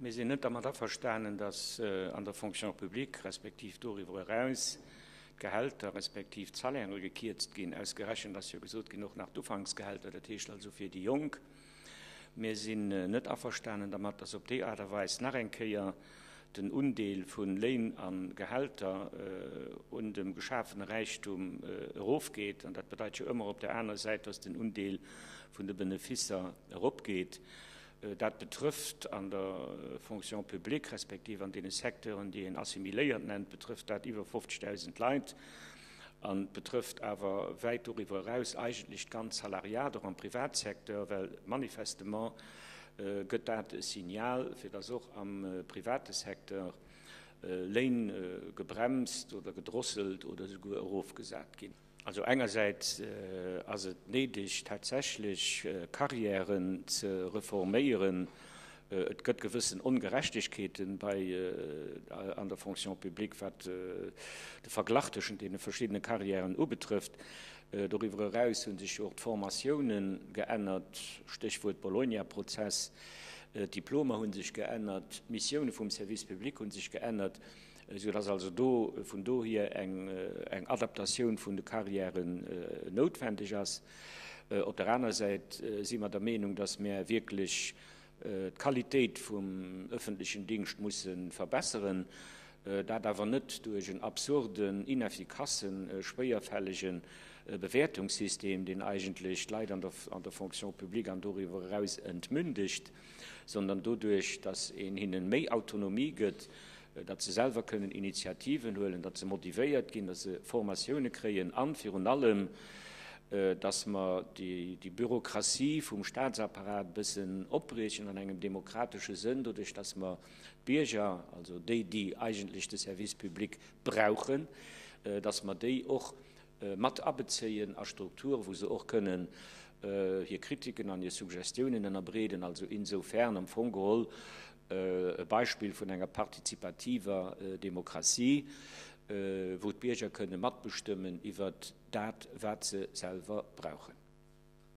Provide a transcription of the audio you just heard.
Mir sinn net dermat averstanen, datt an der Fonction publique, respektiv doriwwer eraus, d'Gehälter, respektiv d'Salairë gekierzt ginn. Ausgerechent ass jo gesot ginn, och nach d'Ufanksgehälter, dat heescht also fir déi Jonk. Mir sinn net averstanen dermat, datt op déi Aart a Weis nach eng Kéier den Undeel vu Léin a Gehälter un dem geschafene Räichtum erofgeet. An dat bedeit jo ëmmer op der aner Säit, datt den Undeel vun de Benefisser eropgeet. Dat betrëfft an der Fonction publique, respektiv an deene Secteuren, déi een assimiléiert nennt, betrëfft dat iwwer 50.000 Leit an betrëfft awer wäit doriwwer eraus eigentlech d'ganz Salariat, och am Privatsecteur, well manifestement gëtt dat e Signal, fir dass och am private Secteur Léin gebremst oder gedrosselt oder esouguer erofgesat ginn. Also engersäits ass et néideg, tatsächlech Carrièren ze reforméieren. Et gëtt gewëssen Ongerechtegkeete bei an der Fonction publique, wat de Verglach tëschent deene verschiddene Carrièren ubetrëfft. Doriwwer eraus hu sech jo och d'Formatioune geännert, Stéchwuert Bologna-Prozess. D'Diplomer hu sech geännert, d'Missioune vum Service public hu sech geännert. Esou dass also do vun dohier eng Adaptatioun vun de Carrièren noutwendeg ass. Op der aner Säit si mer der Meenung, dass mer wierklech d'Qualitéit vum öffentlechen Dingscht musse verbesseren, dat awer net duerch en absurden, ineffikassen, schwéierfällege Bewäertungssystem, deen eigentlech d'Leit an der Fonction publique an doriwwer eraus entmündegt. sondern doduerch, datt een hinnen méi Autonomie gëtt, datt se selwer kënnen Initiativen huelen, datt se motivéiert ginn, datt se Formatioune kréien an virun allem, datt mer déi Bürokratie vum Staatsapparat e bëssen opbriechen an engem demokratesche Sënn, doduerch, datt mer d'Bierger, also déi, déi eigentlech de Service public brauchen, datt mer déi och mat abezéien a Strukture wou se och kënnen hir Kritiken an hir Suggestiounen ënnerbreeden, also insofern am Fong geholl e Beispill vun enger partizipativer Demokratie, wou d'Bierger kënnen matbestëmmen iwwert dat wat se selwer brauchen.